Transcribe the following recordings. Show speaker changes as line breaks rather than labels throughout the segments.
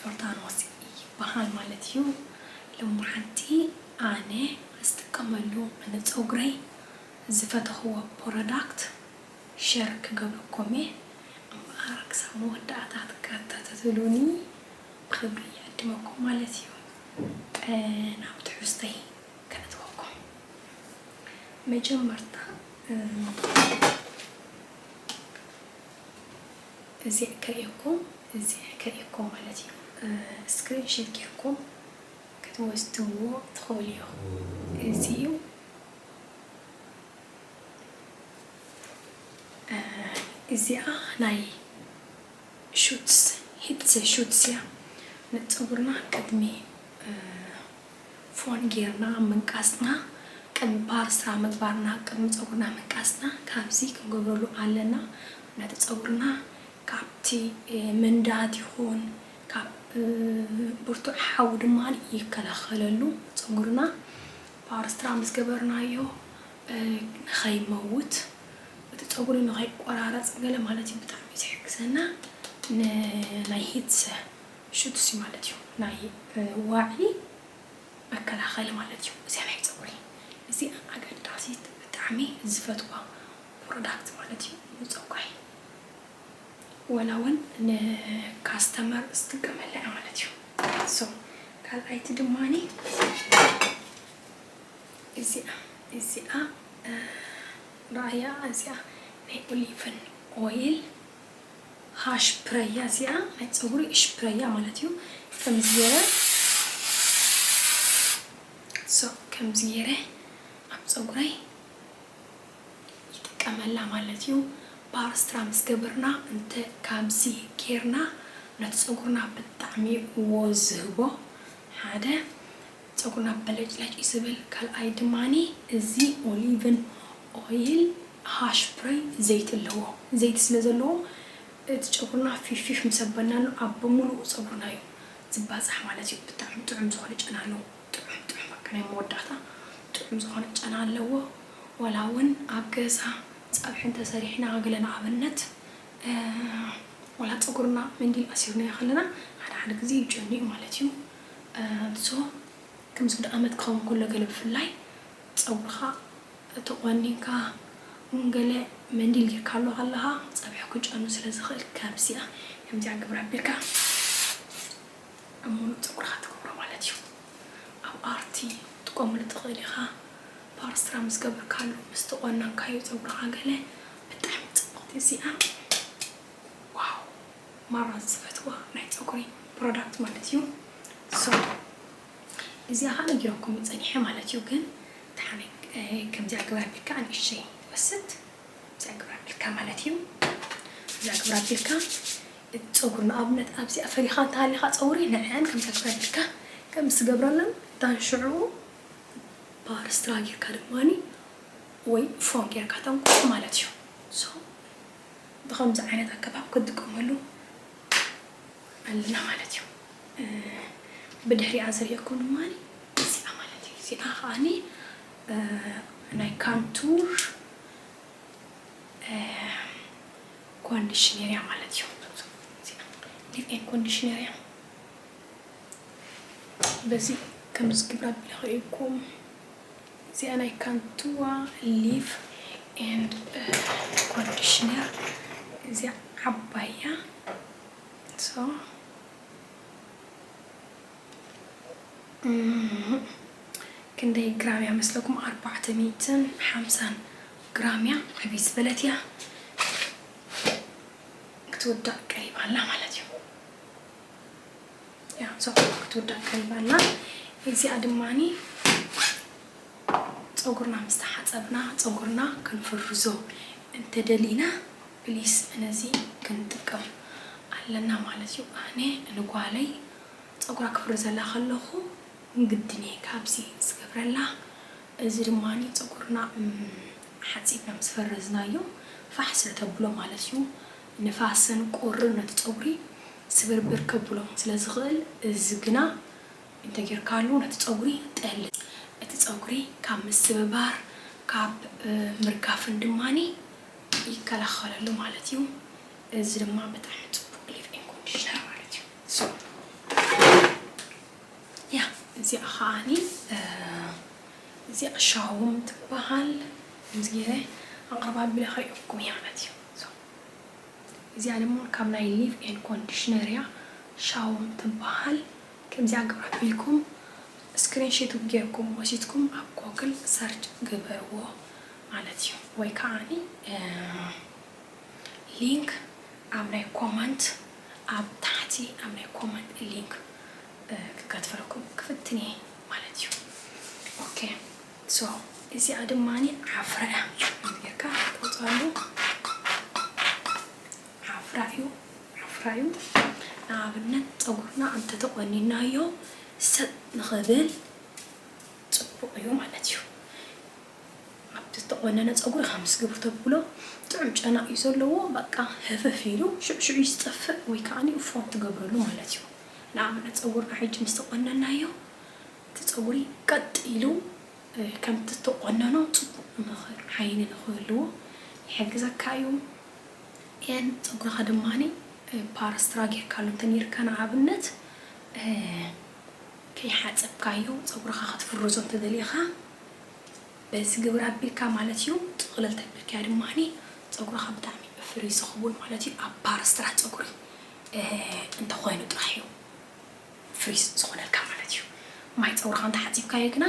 ዮርዳኖስ ይበሃል ማለት እዩ ሎማዓንቲ ኣነ ዝጥቀመሉ ንፀጉረይ ዝፈተኽዎ ፖረዳክት ሸር ክገብረኩም እየ እምበኣር ክሳብ መወዳእታ ትከታተትሉኒ ብኽብሪ ይዕድመኩም ማለት እዩ ናብ ትሕዝቶይ ከእትወኩም መጀመርታ እዚዕ ክሪኤኩም እዚዕ ክሪኤኩም ማለት እዩ እስክሪን ሽት ጌርኩም ክትወስድዎ ትክእሉ ኢኩም እዚ እዩ እዚኣ ናይ ሹትስ ሂትስ ሹትስ እያ ንጸጉርና ቅድሚ ፎን ጌርና ምንቃስና ቅድሚ ፓርስራ ምግባርና ቅድሚ ጸጉርና ምንቃስና ካብዚ ክንገብረሉ ኣለና ነቲ ጸጉርና ካብቲ መንዳድ ይኩን ካብ ብርቱዕ ሓዊ ድማ ይከላከለሉ ጸጉርና ፓርስትራ ምስ ገበርናዮ ንከይመውት እቲ ጸጉሪ ንከይቆራረጽ ገለ ማለት እዩ ብጣዕሚ ዝሕግዘና ን ናይ ሂትሰ ሹትሲ ማለት እዩ ናይ ዋዒ መከላኸሊ ማለት እዩ እዚኣ ናይ ፀጉሪ እዚኣ ኣገዳሲት ብጣዕሚ ዝፈትዋ ፕሮዳክት ማለት እዩ ንፀጉረይ ወላ እውን ንካስተመር ዝጥቀመላ እያ ማለት እዩ ሶ ካልኣይቲ ድማ እዚኣ እዚኣ ረኣያ እዚኣ ናይ ኦሊቭን ኦይል ሀሽፕረያ እዚኣ ናይ ፀጉሪ እሽፕረያ ማለት እዩ ከምዚ ገይረ so ከምዚ ገይረ ኣብ ፀጉረይ ይጥቀመላ ማለት እዩ ፓርስራ ምስ ገበርና እንተ ካብዚ ገይርና ነቲ ፀጉርና ብጣዕሚ እዩ ወዝ ዝህቦ ሓደ ጸጉርና በለጭለጭ እዩ ዝብል። ካልኣይ ድማ እዚ ኦሊቭን ኦይል ሃሽፕረይ ዘይቲ ኣለዎ። ዘይቲ ስለ ዘለዎ እቲ ጨጉርና ፊፍፊፍ ምስ ኣበልናሉ ኣብ ብምሉኡ ጸጉርና እዩ ዝባጻሕ ማለት እዩ። ብጣዕሚ ጥዑም ዝኾነ ጨና ኣለዎ። ጥዑም ጥዑም በቃ ናይ መወዳእታ ጥዑም ዝኾነ ጨና ኣለዎ። ዋላ እውን ኣብ ገዛ ጸብሒ እንተሰሪሕና ገለ ንኣብነት ዋላ ጸጉርና መንዲል ኣሲርናዮ ከለና ሓደ ሓደ ግዜ ይጨኑ እዩ ማለት እዩ። ኣዞ ክምዚ ክንዲ ኣመት ክከውን ከሎ ገለ ብፍላይ ጸጉርካ ተቆኒንካ ውን ገለ መንዲል ጌርካሉ ከለካ ጸብሒ ክጨኑ ስለ ዝክእል ከምዚኣ ከምዚኣ ግብራ ኣቢልካ ኣብ ሙሉእ ጸጉርካ ትገብሮ ማለት ዩ ኣብ ኣርቲ ክትጥቀመሉ ትክእል ኢካ ፓርስራ ምስ ገበርካሉ ምስ ተቆናንካዮ ጸጉርካ ገለ ብጣዕሚ ጽብቅቲ እዚኣ ዋው። ማራ ዝፈትዋ ናይ ጸጉሪ ፕሮዳክት ማለት እዩ ሶዶ እዚኣ ከኣ ነጊረኩሚ ጸኒሐ ማለት እዩ ግን ደሓን ከምዚኣ ግብሪ ኣቢልካ ንእሽተይ ትወስድ እዚኣ ግብሪ ኣቢልካ ማለት እዩ እዚኣ ግብሪ ኣቢልካ ጸጉሪ ንኣብነት ኣብዚኣ ፈሪኻ እንተሃሊኻ ጸጉሪ ንዕዐን ከምዚኣ ግብሪ ኣቢልካ ከምዚ ትገብረለን ዳን ሽዑ ባር ስትራ ጌርካ ድማ ወይ ፎም ጌርካ ተንቁሕ ማለት እዩ ሶ ብኸምዚ ዓይነት ኣገባብ ክንጥቀመሉ ኣለና ማለት እዩ። ብድሕሪኣ ዘልየኩም ድማ እዚኣ ማለት እዩ። እዚኣ ከኣ ናይ ካንቱር ኮንዲሽነር እያ ማለት እዩ። ሊቭ ኤን ኮንዲሽነር እያ። በዚ ከምዚ ግብራ ቢለ ከኢልኩም እዚኣ ናይ ካንትዋ ሊቭ ኤንድ ኮንዲሽነር እዚኣ ዓባይ እያ so ክንደይ ግራም እያ መስለኩም ኣርባዕተ ሚእትን ሓምሳን ግራም እያ ዕብይ ዝበለት እያ ክትውዳእ ቀሪባ ኣላ ማለት እዩ ያው ፀጉር ክትውዳ ቀልብ ኣላ እዚኣ ድማኒ ፀጉርና ምስ ተሓፀብና ፀጉርና ክንፍርዞ እንተደሊና ፕሊስ ነዚ ክንጥቀም ኣለና ማለት እዩ ኣነ ንጓለይ ፀጉራ ክፍርዘላ ከለኹ ግድን እየ ካብዚ ዝገብረላ እዚ ድማኒ ፀጉርና ሓፂብና ምስ ፈረዝናዮ ፋሕ ስለ ተብሎ ማለት እዩ ንፋስን ቁርን ነቲ ጸጉሪ ስብርብር ከብሎ ስለ ዝኽእል እዚ ግና እንተ ጌርካሉ ነቲ ጸጉሪ ጠሊ። እቲ ጸጉሪ ካብ ምስብባር ካብ ምርጋፍን ድማ ይከላኸለሉ ማለት እዩ። እዚ ድማ ብጣዕሚ ጽቡቕ ሊቭ ኢን ኮንዲሽነር ማለት እዩ። so yeah እዚኣ ከኣ እዚኣ ሻውም ትበሃል ከምዚ ጌረ ኣቕርባ ኣቢለ ከርእየኩም እየ ማለት እዩ። እዚኣ ደሞ ካብ ናይ ሊቭ ኤን ኮንዲሽነር እያ ሻውም ትባሃል ከምዚኣ ግብራቶ ኢልኩም እስክሪን ሽት ጌርኩም ወሲድኩም ኣብ ጎግል ሰርች ግበርዎ ማለት እዩ ወይ ካዓ ሊንክ ኣብ ናይ ኮመንት ኣብ ታሕቲ ኣብ ናይ ኮመንት ሊንክ ክከትፈለኩም ክፍትን እየ ማለት እዩ ኦኬ። so እዚኣ ድማ ዓፍራ እያ ከምዚ ጌርካ ትቆርጸሉ ዓፍራ እዩ ዓፍራ እዩ ንኣብነት ጸጉርና እንተ ተቆኒናዮ ሰጥ ንኽብል ጽቡቅ እዩ ማለት እዩ ኣብቲ ዝተቆነነ ጸጉሪ ከም ስግብ ተብሎ ጥዑም ጨና እዩ ዘለዎ በቃ ህፍፍ ኢሉ ሽዑ ሽዑ ይስጠፍእ ወይ ከዓኒ እፎም ትገብረሉ ማለት እዩ ንኣብነት ጸጉርና ሕጂ ምስ ተቆነናዮ እቲ ጸጉሪ ቀጥ ኢሉ ከምቲ እትቖነኖ ጽቡቕ ምኽር ዓይኒ ንኽህልዎ ይሕግዘካ እዩ። ን ጸጉርኻ ድማ ፓር ስትራ ጌርካሉ እንተ ኔርካ ንኣብነት ከይሓጸብካዮ ጸጉርኻ ክትፍርዞ እንተ ደሊኻ በዚ ግብር ኣቢልካ ማለት እዩ ጥቕልል ተቢልካዮ ድማ ጸጉርኻ ብጣዕሚ እዩ ፍሪዝ ዝኸውን ማለት እዩ ኣብ ፓር ስትራ ጸጉሪ እንተ ኾይኑ ጥራሕ እዩ። ፍሪዝ ዝኾነልካ ማለት እዩ ማይ ጸጉርኻ እንተ ሓጺብካዮ ግና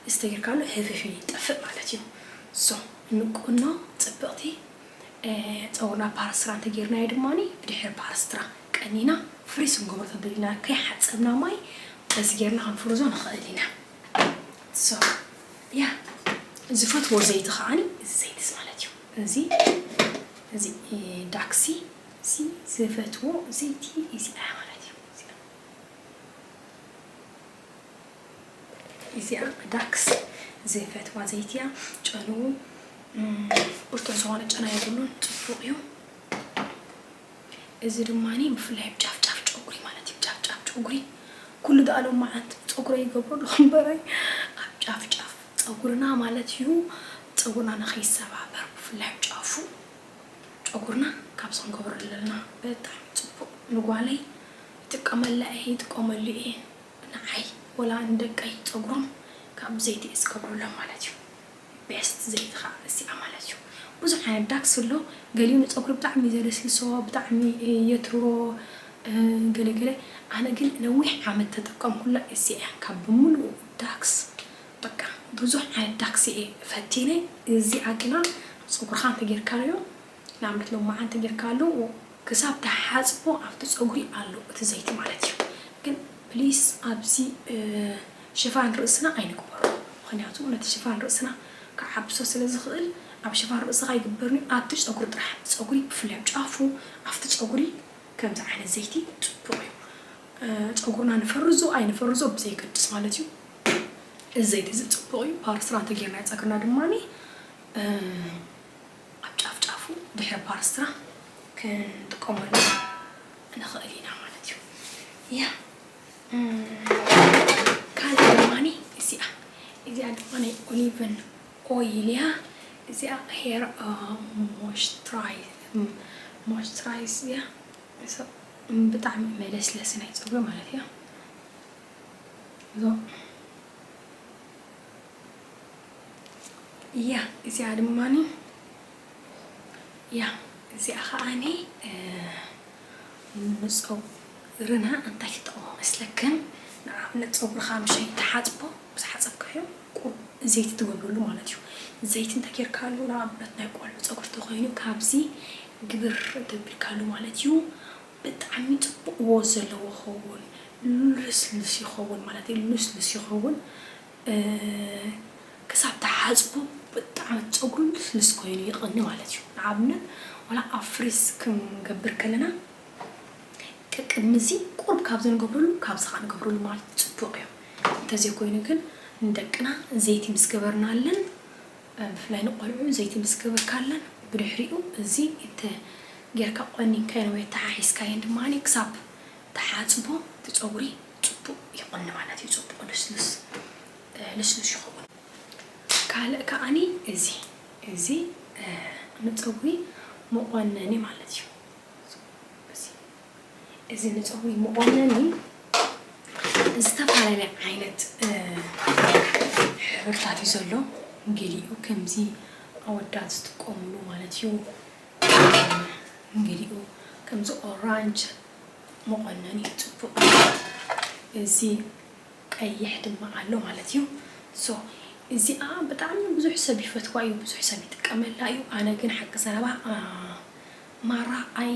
እስተይርካሉ ህፍፍ ኢሉ ይጠፍእ ማለት እዩ so ንቁኖ ጽብቅቲ ጸጉርና ፓራስትራ እንተ ጌርናዮ ድማ ብድሕሪ ፓራስትራ ቀኒና ፍሪዝ ክንገብሮ ተደሊና ከይ ሓጸብና ማይ በዚ ጌርና ክንፍርዞ ንኽእል ኢና so yeah ዝፈትዎ ዘይቲ ከኣ እዚ ዘይቲ ማለት እዩ እዚ እዚ ዳክሲ እዚ ዝፈትዎ ዘይቲ እዚ ኣያ ማለት እዩ ኢዚኣ ዳክስ ዘይፈትዋ ዘይቲ እያ ጨንኡ ኡርጡር ዝኾነ ጨና የብሉን ጽቡቅ እዩ እዚ ድማ ብፍላይ ኣብ ጫፍ ጫፍ ጨጉሪ ማለት እዩ ጫፍ ጫፍ ጨጉሪ ኩሉ ዳኣ ሎም መዓልቲ ጸጉረይ ይገብሮ ዶ እምበራይ ኣብ ጫፍ ጫፍ ጸጉርና ማለት እዩ ጸጉርና ንኸይሰባበር ብፍላይ ኣብ ጫፉ ጨጉርና ካብ ሰንኮብር እለልና ብጣዕሚ ጽቡቅ ንጓለይ ይጥቀመላ እየ ይጥቀመሉ እየ ንዓይ ወላ ንደቀይ ጸጉሮም ካብ ዘይቲ እየ ዝገብረሎም ማለት እዩ ቤስት ዘይቲ ከኣ እዚኣ ማለት እዩ ብዙሕ ዓይነት ዳክስ ኣሎ ገሊኡ ንጸጉሪ ብጣዕሚ እዩ ዘለስልሶ ብጣዕሚ የትርሮ ገለ ገለ ኣነ ግን ነዊሕ ዓመት ተጠቀምኩላ እዚኣ እያ ካብ ብምሉኡ ዳክስ በቃ ብዙሕ ዓይነት ዳክሲ እየ ፈቲነ እዚኣ ግና ፀጉርካ እንተጌርካዮ ንኣብነት ሎማዓንቲ ተጌርካሉ ክሳብ ትሓፅቦ ኣብቲ ፀጉሪ ኣሎ እቲ ዘይቲ ማለት እዩ ግን ፕሊስ ኣብዚ ሽፋን ርእስና ኣይንግበሮ ምክንያቱ ነቲ ሽፋን ርእስና ክዓብሶ ስለ ዝክእል ኣብ ሽፋን ርእስካ ኣይግበርን እዩ ኣብቲ ፀጉሪ ጥራሕ ፀጉሪ ብፍላይ ኣብ ጫፉ ኣብቲ ፀጉሪ ከምዚ ዓይነት ዘይቲ ፅቡቅ እዩ ፀጉርና ንፈርዞ ኣይንፈርዞ ብዘየገድስ ማለት እዩ እዚ ዘይቲ እዚ ፅቡቕ እዩ ፓርስትራ እንተጌርናዮ ፀግርና ድማ ኣብ ጫፍ ጫፉ ድሕሪ ፓርስትራ ክንጥቀመሉ ንኽእል ኢና ማለት እዩ ያ ካልእ ድማ እዚኣ እዚኣ ድማ ናይ ኦሊቨን ኦይል እያ እዚኣ ሄር ሞይስቸራይዝ እያ ብጣዕሚ መለስለሲ ናይ ፀጉሪ ማለት እያ እዞ እያ እዚኣ ድማኒ እያ እዚኣ ከዓኒ ንፀጉርና እንታይ ትጠቕሞ መስለክን ንኣብነት ፀጉርካ ምሸይ ትሓፅቦ ምስ ሓፀብካዮ ቁሩብ ዘይቲ ትገብረሉ ማለት እዩ ዘይቲ እንታይ ጌርካሉ ንኣብነት ናይ ቆልዑ ፀጉሪ ተኮይኑ ካብዚ ግብር እንተቢልካሉ ማለት እዩ ብጣዕሚ ጽቡቅ ዎዝ ዘለዎ ክኸውን ሉስሉስ ይኸውን ማለት እዩ ሉስሉስ ይኸውን ክሳብ ትሓጽቦ ብጣዕሚ ጸጉሩ ሉስሉስ ኮይኑ ይቅኒ ማለት እዩ ንኣብነት ዋላ ኣብ ፍሪዝ ክንገብር ከለና ቀቅድሚዚ ቁሩብ ካብዚ ንገብረሉ ካብዚ ካኣ ንገብረሉ ማለት ጽቡቅ እዩ እንተዘይኮይኑ ግን ንደቅና ዘይቲ ምስ ገበርናለን ብፍላይ ንቆልዑ ዘይትምስ ገበርካለን ብድሕሪኡ እዚ እንተ ጌርካ ቆኒንካየን ወይ ኣተሓሒዝካየን ድማ ክሳብ ትሓጽቦ እቲ ጸጉሪ ጽቡቅ ይቆኒ ማለት እዩ ጽቡቅ ልስልስ ልስሉስ ይኸውን ካልእ ከኣኒ እዚ እዚ ንጸጉሪ መቆነኒ ማለት እዩ እዚ። እዚ ንፀጉሪ መቆነኒ ዝተፈላለየ ዓይነት ሕብርታት እዩ ዘሎ። ገሊኡ ከምዚ ኣወዳት ዝጥቀምሉ ማለት እዩ። ገሊኡ ከምዚ ኦራንጅ መቆነኒ ፅቡቅ እዚ ቀይሕ ድማ ኣሎ ማለት እዩ። ሶ እዚኣ ብጣዕሚ ብዙሕ ሰብ ይፈትዋ እዩ፣ ብዙሕ ሰብ ይጥቀመላ እዩ። ኣነ ግን ሓቂ ዘረባ ማራ ኣይ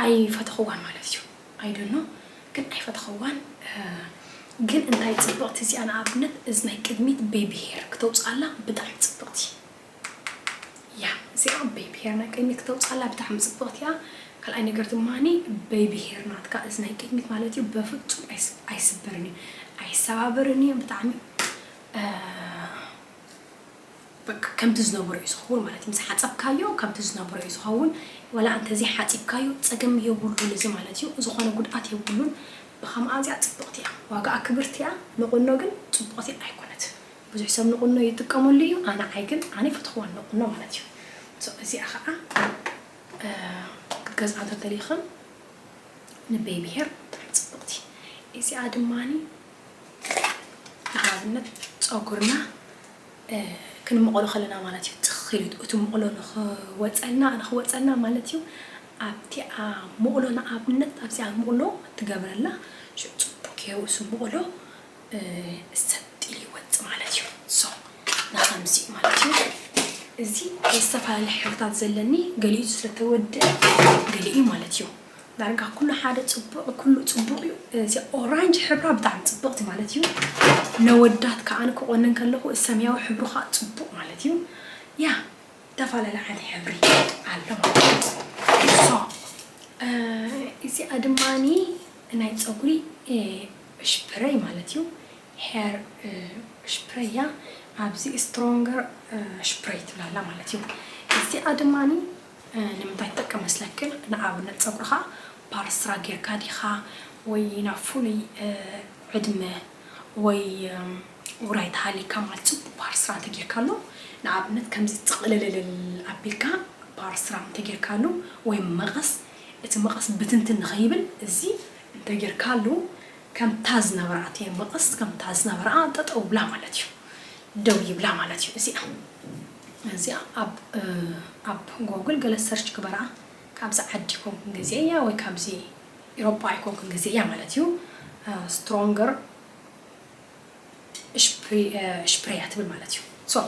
ኣይ ፈተኽዋን ማለት እዩ ኣይ ዶኖ ግን ኣይ ፈተኽዋን ግን እንታይ ጽብቅቲ እዚኣ ንኣብነት እዝናይ ቅድሚት ቤቢ ሄር ክተውጽኣላ ብጣዕሚ ጽብቅቲ እያ እዚኣ ቤቢ ሄር ናይ ቅድሚት ክተውጽኣላ ብጣዕሚ ጽብቅቲ እያ ካልኣይ ነገር ድማኒ ቤቢ ሄር ናትካ እዝናይ ቅድሚት ማለት እዩ በፍጹም ኣይስበርን እዩ ኣይሰባበርን እዩ ብጣዕሚ በቃ ከምቲ ዝነበሮ እዩ ዝኸውን ማለት እዩ ምስ ሓጸብካዮ ከምቲ ዝነበሮ እዩ ዝኸውን ዋላ እንተ ዘይሓጺብካዮ ጸገም የብሉን እዚ ማለት እዩ ዝኾነ ጉድኣት የብሉን ብኸምኣ ኣዝያ ጽብቕቲ እያ ዋጋኣ ክብርቲ እያ ንቑኖ ግን ጽቡቕቲ ኣይኮነትን ብዙሕ ሰብ ንቑኖ ይጥቀመሉ እዩ ኣነ ኣይ ግን ኣነ ኣይፈተኽዋን ንቑኖ ማለት እዩ so እዚኣ ኸኣ ክትገዝኣ እንተ ደሊኽን ንቤቢ ሄር ብጣዕሚ ጽብቕቲ እዚኣ ድማኒ ንኣብነት ጸጉርና ክንመቕሎ ከለና ማለት እዩ ጽኽ ኢሉ እቲ መቕሎ ንኽወጸልና ንኽወጸልና ማለት እዩ ኣብቲኣ መቕሎ ንኣብነት ኣብዚኣ መቕሎ ትገብረላ ሽዑ ጽቡቕ ገይሩ እሱ መቕሎ ሰጥ ኢሉ ይወጽ ማለት እዩ ሶ ንኸምዚ ማለት እዩ እዚ ዝተፈላለዩ ሕብርታት ዘለኒ ገሊኡ ስለተወድአ ገሊኡ ማለት እዩ ዳርጋ ኩሉ ሓደ ጽቡቅ ኩሉ ጽቡቅ ዩ እዚኣ ኦራንጅ ሕብራ ብጣዕሚ ጽብቅቲ ማለት ዩ ነወዳት ከኣ ክቆንን ከለኩ እዚ ሰምያዊ ሕብሩ ከኣ ጽቡቅ ማለት ዩ ያ ተፋላለ ዓይነት ሕብሪ ኣሎ ማለት እዚኣ ድማ ናይ ጸጉሪ ሽፕረይ ማለት ዩ ሄር ሽፕረይ ያ ኣብዚ ስትሮንገር ሽፕረይ ትብላላ ማለት ዩ እዚኣ ድማ ንምንታይ ትጠቅም መስለክን ንኣብነት ጸጉርካ ፓርስራ ጌርካ ዲካ ወይ ናብ ፉሉይ ዕድመ ወይ ውራይ ተሃሊካ ማለት ጽቡቅ ፓርስራ እንተ ጌርካሉ ንኣብነት ከምዚ ጽቅልልልል ኣቢልካ ፓርስራ እንተ ጌርካሉ ወይ መቀስ እቲ መቀስ ብትንትን ንከይብል እዚ እንተ ጌርካሉ ከምታ ዝነበራ እቲ መቀስ ከምታ ዝነበራ ጠጠው ይብላ ማለት እዩ ደው ይብላ ማለት እዩ እዚኣ እዚኣ ኣብ ኣብ ጎግል ገለ ሰርች ግበራ ካብዚ ዓዲ ኣይኮንኩን ገዚኤያ ወይ ካብዚ ኢሮጳ ኣይኮንኩን ገዚኤያ ማለት እዩ ስትሮንገር እሽፕርያ ትብል ማለት እዩ ሶ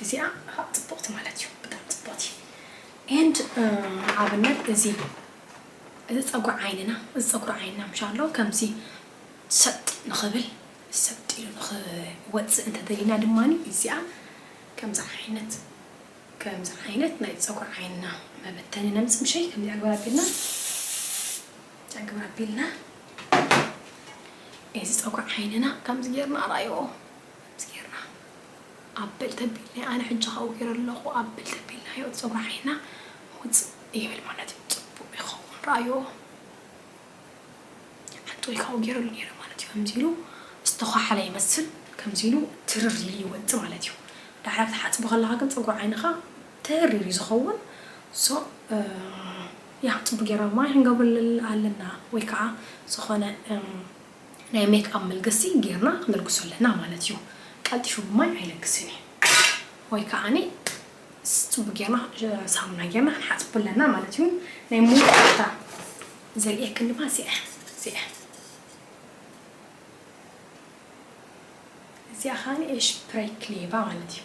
እዚኣ ከዓ ፅብቕቲ ማለት እዩ ብጣዕሚ ፅብቕቲ ኤንድ ንኣብነት እዚ እዚ ፀጉሪ ዓይንና እዚ ፀጉሪ ዓይንና ምሻሎ ከምዚ ሰጥ ንኽብል ሰልጢኑ ንኽወጽእ እንተደሊና ድማ እዚኣ ከምዚ ዓይነት ከምዚ ዓይነት ናይ ጸጉሪ ዓይንና መበተኒ ነምጽእ ምሸይ ከምዚ ኣግብር ኣቢልና ኣግብር ኣቢልና እዚ ጸጉሪ ዓይንና ከምዚ ጌርና ኣርኣይዎ ከምዚ ጌርና ኣበል ተቢልና ኣነ ሕጂ ካብኡ ጌረ ኣለኹ ኣበል ተቢልናዮ ጸጉሪ ዓይንና ውጽእ ይብል ማለት እዩ ጽቡቕ ይኸውን ርኣይዎ ሓንት ኢሉ ካብኡ ጌሩ ኣሎ ኔረ ማለት እዩ ከምዚ ኢሉ ዝተዃሓለ ይመስል ከምዚ ኢሉ ትርር ኢሉ ይወጽእ ማለት እዩ ዳሕራ ክትሓጽቦ ከለኻ ግን ጸጉሪ ዓይንኻ ተሪር እዩ ዝኸውን so ያ ጽቡቅ ጌርና ማይ ክንገብረሉ ኣለና ወይ ከኣ ዝኾነ ናይ ሜክኣፕ መልገሲ ጌርና ክንልግሶ ኣለና ማለት እዩ ቀልጢፉ ብማይ ኣይልግስን እዩ ወይ ከኣ ጽቡቅ ጌርና ሳሙና ጌርና ክንሓጽቦ ኣለና ማለት እዩ ናይ መወዳእታ ዘርእየክን ድማ እዚኣ እያ እዚኣ እዚኣ ከኣ ኤሽ ፕሬክሌቫ ማለት እዩ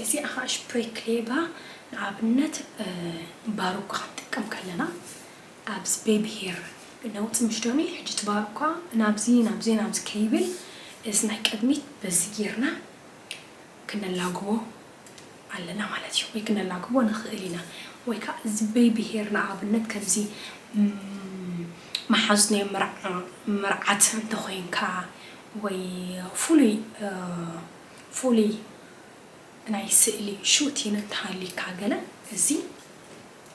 እዚኣ ከኣ ኤሽ ፕሬክሌቫ ንኣብነት ባሮካ ክንጥቀም ከለና ኣብ ስፔብሄር ለውጢ ምስ ደልዩ ሕጂ ትባል እኳ ናብዚ ናብዚ ናብዚ ከይብል እዚ ናይ ቅድሚት በዚ ጌርና ክነላግቦ ኣለና ማለት እዩ ወይ ክነላግቦ ንኽእል ኢና ወይ ከኣ ዝቤብሄር ንኣብነት ከምዚ መሓዙት ናይ መርዓ መርዓት እንተ ኾይንካ ወይ ፍሉይ ፍሉይ ናይ ስእሊ ሹቲን እንተ ሃልዩካ ገለ እዚ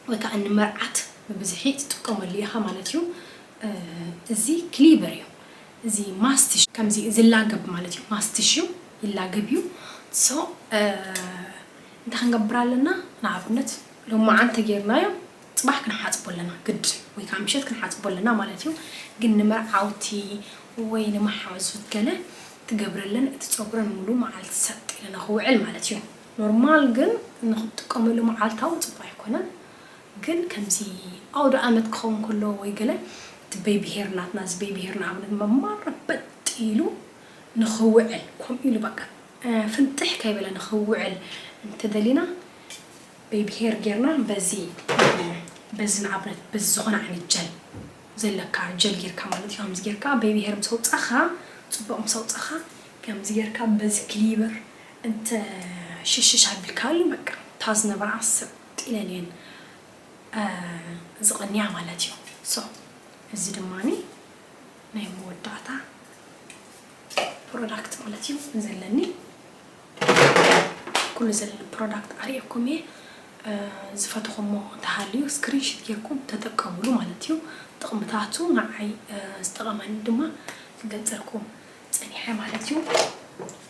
ወይ ከኣ ንመርዓት ብብዝሒ ትጥቀመሉ ኢኻ ማለት እዩ። እዚ ክሊቨር እዩ። እዚ ማስቲሽ ከምዚ ዝላገብ ማለት እዩ። ማስቲሽ እዩ ይላገብ እዩ። ሶ እንታይ ክንገብር ኣለና ንኣብነት ሎማዓንቲ ተጌርናዮ ጽባሕ ክንሓጽቦ ኣለና ግድን ወይ ከኣ ምሸት ክንሓጽቦ ኣለና ማለት እዩ። ግን ንመርዓውቲ ወይ ንመሓዙት ገለ ትገብረለን እቲ ጸጉረን ሙሉ መዓልቲ ሰጥ ኢሉ ንኽውዕል ማለት እዩ። ኖርማል ግን ንክትጥቀመሉ መዓልታዊ ጽቡቅ ኣይኮነን ግን ከምዚ ኣውደኣመት ክከውን ከሎ ወይ ገለ እቲ በይብሄር ናትና እዚ በይብሄር ንኣብነት መማር በጥ ኢሉ ንክውዕል ከምኡ ኢሉ በቃ ፍንጥሕ ከይበለ ንክውዕል እንተደሊና በይብሄር ጌርና በዚ በዚ ንኣብነት በዚ ዝኮነ ዓይነት ጀል ዘለካ ጀል ጌርካ ማለት እዩ ከምዚ ጌርካ በይብሄር ምስ ኣውጻካ ጽቡቅ ምስ ኣውጻካ ከምዚ ጌርካ በዚ ክሊበር እንተ ሽሽሽ ኣቢልካሉ በቃ እታ ዝነበራ ሰጥ ኢለን እየን ዝቕንያ ማለት እዩ so እዚ ድማ ናይ መወዳእታ ፕሮዳክት ማለት እዩ ዘለኒ ኩሉ ዘለኒ ፕሮዳክት ኣርእየኩም እየ ዝፈትኹሞ እንተሃልዩ ስክሪንሽት ጌርኩም ተጠቀምሉ ማለት እዩ ጥቕምታቱ ንዓይ ዝጠቐመኒ ድማ ክገልጸልኩም ጸኒሐ ማለት እዩ።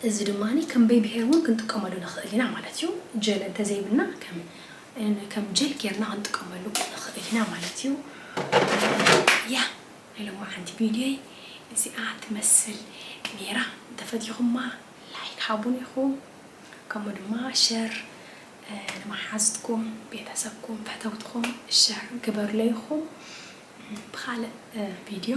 እዚ ድማ ከምበይ ብሄር እውን ክንጥቀመሉ ንኽእል ኢና ማለት እዩ። ጀል እንተዘይብልና ከም ጀል ጌርና ክንጥቀመሉ ንኽእል ኢና ማለት እዩ። ያ ናይ ሎማዓንቲ ቪድዮይ እዚኣ ትመስል ኔራ። እንተፈቲኹማ ላይክ ሃቡኒ ኢኹም። ከምኡ ድማ ሸር ንመሓዙትኩም፣ ቤተሰብኩም፣ ፈተውትኹም ሸር ግበሩለይ ኢኹም። ብኻልእ ቪድዮ